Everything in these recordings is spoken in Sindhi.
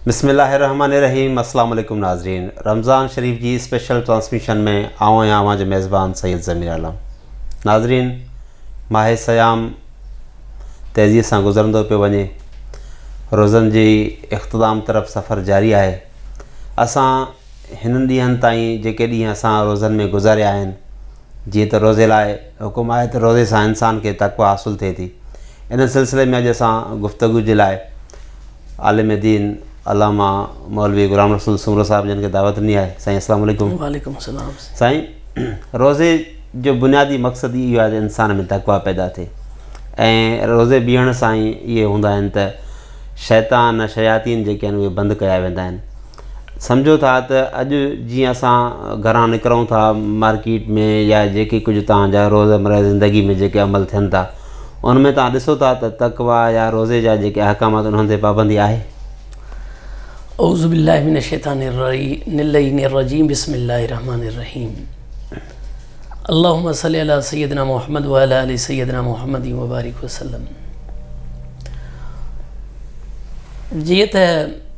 بسم الله الرحمٰن الرحيم اسلام عليڪم ناظرين رمضان شريف جي اسپيشل ٽرانسميشن ۾ آئون آهيان اوهان جو ميزبان سيد ضمير عالم ناظرين ماهي سيام تيزي سان گذرندو پيو وڃي روزن جي اختتام طرف سفر جاري آهي اسان هنن ڏينهن تائين جيڪي ڏينهن اسان روزن ۾ گذاريا آهن جيئن ته روزي لاء حڪم آهي ته روزي سان انسان کي تقويٰ حاصل ٿئي ٿي. ان سلسلي ۾ اڄ اسان گفتگو جي لاء عالم دين علامه مولوي غلام رسول سومرو صاحب جن کي دعوت ڏني آهي. سائين السلام عليڪم. وعليڪم السلام. سائين روزي جو بنيادي مقصد ئي اهو آهي ته انسان ۾ تقويٰ پيدا ٿئي ۽ روزي بيهڻ سان ئي اهي هوندا آهن ته شيطان شياطين جيڪي آهن اهي بند ڪيا ويندا آهن. سمجهو ٿا ته اڄ جيئن اسان گهران نڪرون ٿا مارڪيٽ ۾ يا جيڪي ڪجهه تان جا روز مرهه زندگي ۾ جيڪي عمل ٿين ٿا ان ۾ تان ڏسو ٿا ته تقوا يا روزي جا جيڪي احڪامات انهن تي پابندي آهي اعوذ بالله من الشيطان الرجيم الرجيم بسم الله الرحمن الرحيم اللهم صل على سيدنا محمد وعلى ال سيدنا محمد وبارك وسلم جيئن ته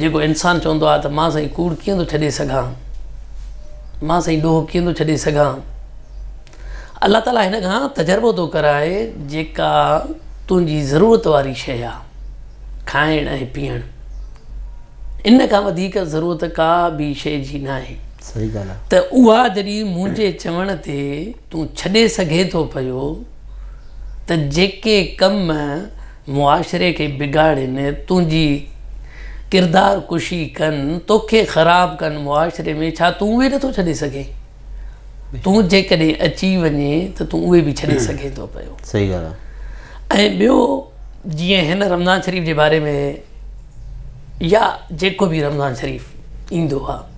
جيڪو انسان چوندو آهي ته مان سائين ڪوڙ ڪيئن ٿو ڇڏي سگهان مان سائين ڏوهه ڪيئن ٿو ڇڏي سگهان الله تعالا هن کان تجربو ٿو ڪرائي جيڪا تنهنجي ضرورت واري شيء آهي کائڻ ۽ پيئڻ ان کان وڌيڪ ضرورت ڪا به شيء جي نه آهي ته اها جڏهن منهنجي چوڻ تي تون ڇڏي سگهي ٿو پيو ته جيڪي ڪم معاشري کي بگاڙين تنهنجي ڪردار ڪشي ڪن توکي خراب ڪن معاشري ۾ ڇا تون اهي نٿو ڇڏي سگهين تون جيڪڏهن اچي وڃي ته تون اهي به ڇڏي سگهين ٿو پيو صحيح ڳالهه آهي ۽ ٻيو جيئن هن رمضان شريف جي باري ۾ يا جيڪو به رمضان شريف ايندو آهي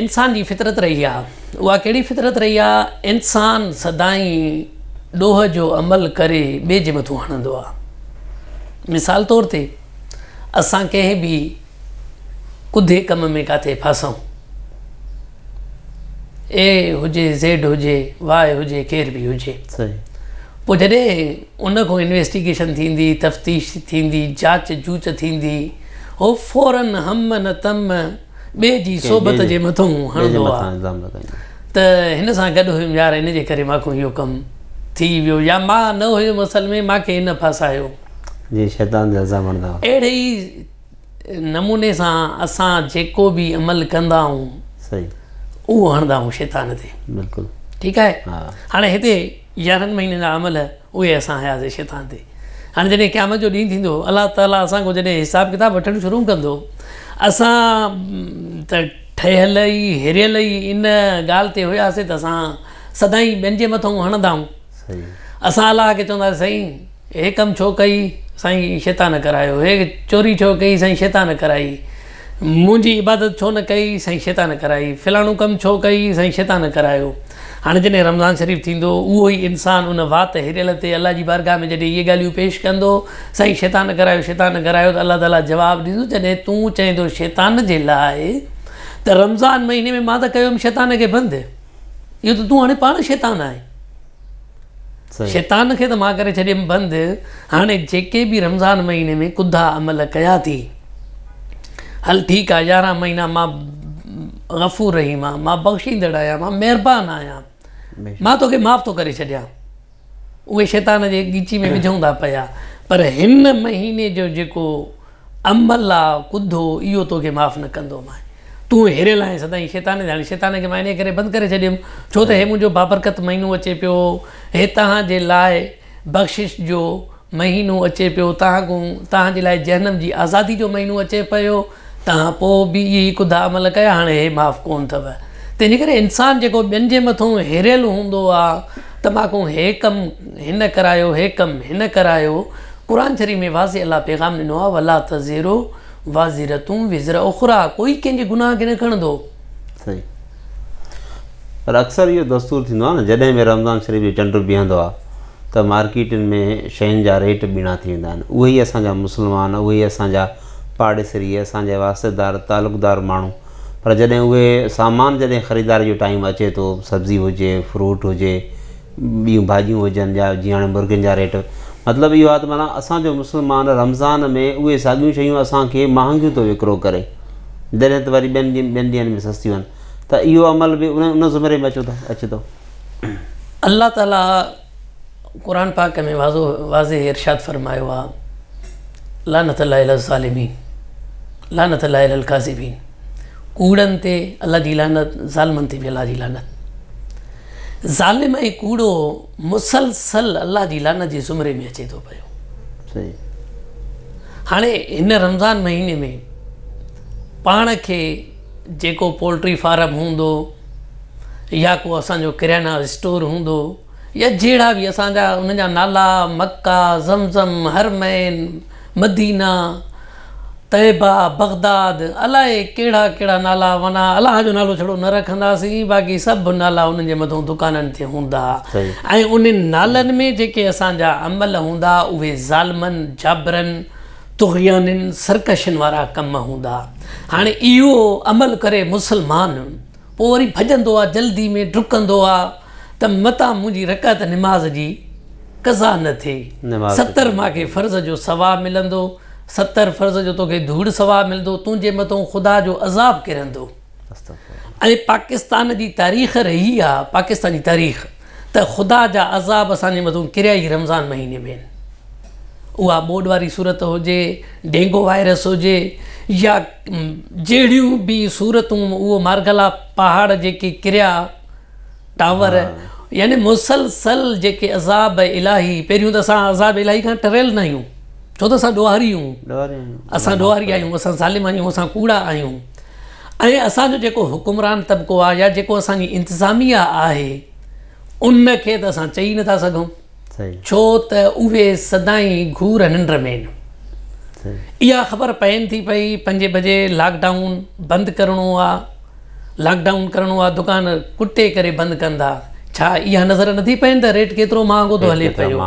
انسان جي فطرت رهي آهي. اها ڪهڙي فطرت رهي آهي؟ انسان سدائين ڏوهه جو عمل ڪري ٻئي جي مٿو هڻندو آهي. مثال طور تي اسان ڪنهن به ڪڌي ڪم ۾ ڪاٿي ڦاسون، اي هجي، زيڊ هجي، واء هجي، ڪير به هجي. پوء جڏهن ان کان انويسٽيگيشن ٿيندي، تفتيش ٿيندي، جاچ جوچ ٿيندي، هو فوراً هم نه تم، ٻئي جي صحبت جي مٿون هڻندو آ ته هن سان گڏ هيم يار ان جي ڪري ماکون اهو ڪم ٿي ويو يا مان نه هيم اصل ۾ ماکي هن ڦاسايو. جيئن شيطان جا الزام هڻندا هئا. اهڙي ئي نموني سان اسان جيڪو به عمل ڪندا آهون اهو هڻندا آهون شيطان تي. بلڪل. ٺيڪ آهي. هاڻي هتي. يارهن مهينن جا عمل اهي اسان هياسي شيطان تي. هاڻي جڏهن قيامت جو ڏينهن ٿيندو، الله تعاليٰ اسان کان جڏهن حساب ڪتاب وٺڻ شروع ڪندو، اسان ته ٺهيل ئي هريل ئي ان ڳالهه تي هياسي ته اسان سدائين ٻين جي مٿئون هڻندائون. اسان الله کي چونداسين سائين! هي ڪم ڇو ڪئي سائين شيطان ڪرايو. هي چوري ڇو ڪئي سائين شيطان ڪرائي. منهنجي عبادت ڇو نه ڪئي سائين شيطان ڪرائي. فلاڻو ڪم ڇو ڪئي سائين شيطان ڪرايو. هاڻي جڏهن رمضان شريف ٿيندو اهو ئي انسان ان وات هريل تي الله جي بارگاهه ۾ جڏهن اهي ڳالهيون پيش ڪندو سائين شيطان ڪرايو شيطان ڪرايو ته الله تعاليٰ جواب ڏيندو جڏهن تون چئيندو شيطان جي لاء ته رمضان مهيني ۾ مان ته ڪيو هيم شيطان کي بند اهو ته تون هاڻي پاڻ شيطان آهين. شيطان کي ته مان ڪري ڇڏيم بند هاڻي جيڪي به رمضان مهيني ۾ ڪڌا عمل ڪيا ٿي هل ٺيڪ آهي يارهن مهينا مان غفور رحيم آهيان مان بخشيندڙ آهيان مان مهربان آهيان مان توکي معاف ٿو ڪري ڇڏيان اهي شيطان جي ڳچي ۾ وجهون ٿا پيا پر هن مهيني جو جيڪو ام الله ڪڌو اهو توکي معاف نه ڪندو ماء تون هيريل آهين سدائين شيطان ڌياڻي شيطان کي مان انهي ڪري بند ڪري ڇڏيم ڇو ته هي منهنجو بابرڪت مهينو اچي پيو هي توهان جي لاء بخشش جو مهينو اچي پيو توهان ڪون توهان جي لاء جهنم جي آزادي جو مهينو اچي پيو توهان پوء به اهي ئي ڪڌا عمل ڪيا هاڻي هي معاف ڪون ٿئو تنهنجي ڪري انسان جيڪو ٻين جي مٿون هيريل هوندو آ ته مان ڪون هي ڪم هن ڪرايو هي ڪم هن ڪرايو قرآن شريف ۾ واضح الله پيغام ڏنو آهي ولا تزر وازرة وزر اخريٰ ڪوئي ڪنهن جي گناهه کي نه کڻندو. صحيح پر اڪثر اهو دستور ٿيندو آهي نه جڏهن به رمضان شريف جو چنڊ بيهندو آهي ته مارڪيٽن ۾ شين جا ريٽ ٻيڻا ٿي ويندا آهن اهي ئي اسان جا مسلمان اهي ئي اسان جا پاڙيسري اسان جا واسطيدار تعلقدار ماڻهو پر جڏهن اهي سامان جڏهن خريداري جو ٽائيم اچي ٿو سبزي هجي فروٽ هجي ٻيون ڀاڄيون هجن جا جيئن هاڻي مرغين جا ريٽ مطلب اهو آهي ته معنيٰ اسانجو مسلمان رمضان ۾ اهي ساڳيون شيون اسانکي مهانگيون ٿو وڪرو ڪري جڏهن ته وري ٻين ڏينهن ٻين ڏينهن ۾ سستيون آهن ته اهو عمل به ان ان زمري ۾ اچو ٿا اچي ٿو الله تعالٰي قرآن پاڪ ۾ واضو واضح ارشاد فرمايو آ لعنت الله علی الظالمين لعنت الله علی الکاذبين ڪوڙن تي الله جي لعنت ظالمن تي به الله جي لعنت ظالم ۽ ڪوڙو مسلسل الله جي لعنت جي زمري ۾ اچي ٿو پيو هاڻي هن رمضان مهيني ۾ پاڻ کي جيڪو پولٽري فارم هوندو يا ڪو اسان جو ڪريانا اسٽور هوندو يا جهڙا به اسان جا ان جا نالا مڪا زمزم حرمين مدينه، طيبه، بغداد، الائي ڪهڙا ڪهڙا نالا معنيٰ الله جو نالو ڇڙو نه رکنداسين باقي سڀ نالا انهن جي مٿو دڪانن تي هوندا ۽ انهن نالن ۾ جيڪي اسان جا عمل هوندا اهي ظالمن، جابرن، طغيانين، سرڪشين وارا ڪم هوندا هاڻي اهو عمل ڪري مسلمان. پوء وري ڀڄندو آ جلدي ۾ ڊڪندو آ ته متان منهنجي رڪعت نماز جي قضا نه ٿئي ستر ماکي فرض جو ثواب ملندو ستر فرض جو توکي ڌوڙ ثواب ملندو تنهنجي متون خدا جو عذاب ڪرندو ۽ پاڪستان جي تاريخ رهي آ پاڪستان جي تاريخ ته خدا جا عذاب اسان جي مٿو ڪريا ئي رمضان مهيني ۾ آهن. اها ٻوڏ واري صورت هجي، ڊينگو وائرس هجي يا جهڙيون به صورتون اهو مارگلا پهاڙ جيڪي ڪريا ٽاور يعني مسلسل جيڪي عذاب الاهي پهريون ته اسان عذاب الاهي کان ٽريل ناهيون ڇو ته اسان ڏوهاري آهيون اسان ڏوهاري آهيون اسان ظالم آهيون اسان ڪوڙا آهيون. ۽ اسان جو جيڪو حڪمران طبقو آهي يا جيڪو اسان جي انتظاميا آهي ان کي ته اسان چئي نٿا سگهون ڇو ته اهي سدائين گهور ننڊ ۾ آهن اها خبر پين ٿي پئي پنجين بجي لاڪ ڊائون بند ڪرڻو آهي لاڪ ڊائون ڪرڻو آهي دڪان ڪٽي ڪري بند ڪندا ڇا اها نظر نٿي پين ته ريٽ ڪيترو مهانگو ٿو هلي پيو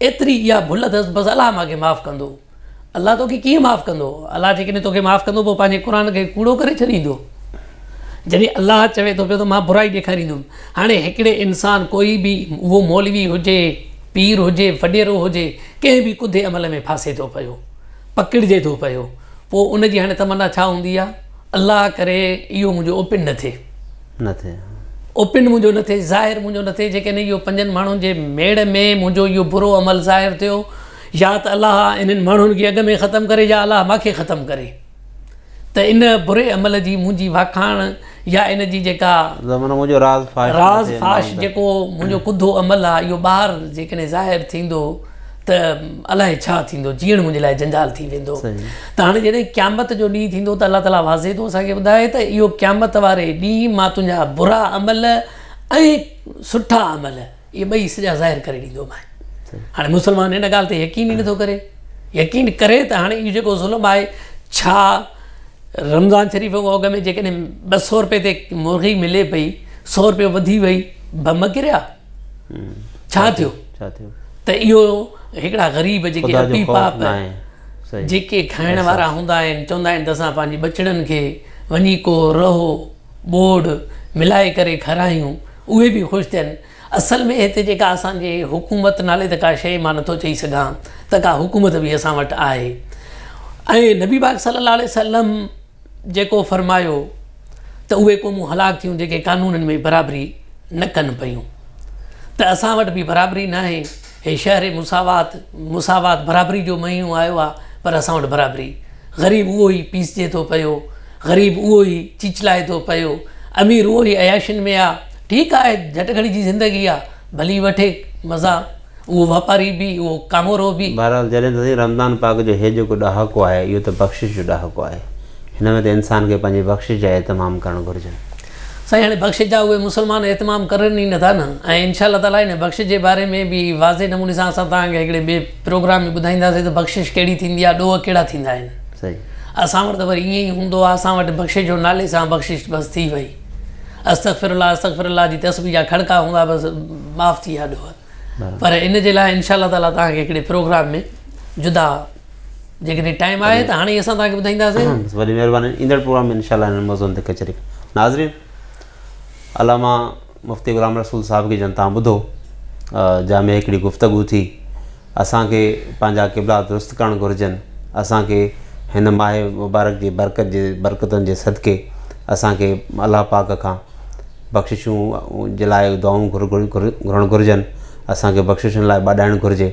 ايتري اها ڀل اٿس بس الله مانکي معاف ڪندو. الله توکي ڪيئن معاف ڪندو؟ الله جيڪڏهن توکي معاف ڪندو پوء پنهنجي قرآن کي ڪوڙو ڪري ڇڏيندو. جڏهن الله چوي ٿو پيو ته مان برائي ڏيکاريندم. هاڻي هڪڙي انسان ڪوئي به اهو مولوي هجي، پير هجي، وڏيرو هجي ڪنهن به ڪڌي عمل ۾ ڦاسي ٿو پيو، پڪڙجي ٿو پيو پوء ان جي هاڻي تمنا ڇا هوندي آهي الله ڪري اهو منهنجو اوپن نه ٿئي. نه ٿئي. اوپن منهنجو نه ٿئي، ظاهر منهنجو نه ٿئي، جيڪڏهن اهو پنجن ماڻهن جي ميڙ ۾ منهنجو اهو برو عمل ظاهر ٿيو، يا ته الله انهن ماڻهن کي اڳ ۾ ختم ڪري يا الله مان کي ختم ڪري، ته ان بري عمل جي منهنجي واکاڻ يا ان جي جيڪا منهنجو راز فاش جيڪو منهنجو ڪڌو عمل آهي اهو ٻاهر جيڪڏهن ظاهر ٿيندو ته الائي ڇا ٿيندو، جيئڻ منهنجي لاء جنجال ٿي ويندو. ته هاڻي جڏهن قيامت جو ڏينهن ٿيندو ته الله تعاليٰ واضح ٿو اسان کي ٻڌائي ته اهو قيامت واري ڏينهن مان تنهنجا برا عمل ۽ سٺا عمل اهي ٻئي سڄا ظاهر ڪري ڏيندومانء. هاڻي مسلمان ان ڳالهه تي يقين ئي نٿو ڪري. يقين ڪري ته هاڻي اهو جيڪو ظلم آهي ڇا رمضان شريف کان اڳ ۾ جيڪڏهن ٻه سؤ روپئي تي مرغي ملي پئي، سؤ روپيو وڌي وئي، بم ڪريا؟ ڇا ٿيو ته اهو هڪڙا غريب جيڪي اپي پاپ جيڪي کائڻ وارا هوندا آهن چوندا آهن ته اسان پنهنجي ٻچڙن کي وڃي ڪو رهو ٻوڙ ملائي ڪري کارايون اهي به خوش ٿين اصل ۾ هتي جيڪا اسانجي حڪومت نالي ته ڪا شيء مان نٿو چئي سگهان ته ڪا حڪومت به اسان وٽ آهي ۽ نبي پاڪ صلي الله عليه وسلم جيڪو فرمايو ته اهي قومون هلاڪ ٿيون جيڪي قانونن ۾ برابري نه ڪن پيون ته اسان وٽ به برابري ناهي هي شهر مساوات مساوات برابري جو مهينو آيو آهي پر اسان وٽ برابري غريب اهو ئي پيسجي ٿو پيو غريب اهو ئي چيچلائي ٿو پيو امير اهو ئي عياشين ۾ آهي ٺيڪ آهي جهٽ گهڙي جي زندگي آهي ڀلي وٺي مزا اهو واپاري به، اهو ڪامورو به. بهرحال جڏهن ته سائين رمضان پاڪ جو هي جيڪو ڏهاڪو آهي اهو ته بخشش جو ڏهاڪو آهي. هن ۾ ته انسان کي پنهنجي بخشش جا اهتمام ڪرڻ گهرجن. سائين هاڻي بخشش جا اهي مسلمان اهتمام ڪرن ئي نٿا نه ۽ انشاء الله تعاليٰ هن بخشش جي باري ۾ به واضح نموني سان اسان توهان کي هڪڙي ٻئي پروگرام ۾ ٻڌائينداسين ته بخشش ڪهڙي ٿيندي آهي ڏوهه ڪهڙا ٿيندا آهن. اسان وٽ ته وري ائين ئي هوندو آهي اسان وٽ بخشش جو نالي سان بخشش بس ٿي وئي. استغفر الله استغفر الله جي تسبيح جا کڙڪا هوندا بس معاف ٿي ويا ڏوهه پر ان جي لاء ان شاء الله تعاليٰ توهان کي هڪڙي پروگرام ۾ جدا جيڪڏهن ٽائيم آهي ته هاڻي اسان توهان کي ٻڌائينداسين وڏي مهرباني ايندڙ پروگرام ۾ ان شاء الله هن موضوعن تي ڪچهري ناظرين علامه مفتي غلام رسول صاحب کي جن تان ٻڌو جا ۾ هڪڙي گفتگو ٿي اسان کي پنهنجا قبلا درست ڪرڻ گهرجن، اسان کي هن ماهه مبارڪ جي برڪت جي برڪتن جي صدقي اسان کي الله پاڪ کان بخششون جي لاء دعائون گهرڻ گهرجن، اسان کي بخششن لاء ٻاڏائڻ گهرجي،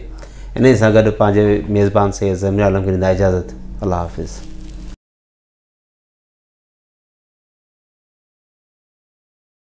انهي سان گڏ پنهنجي ميزبان سيد ضمير عالم کي ڏيندا اجازت، الله حافظ.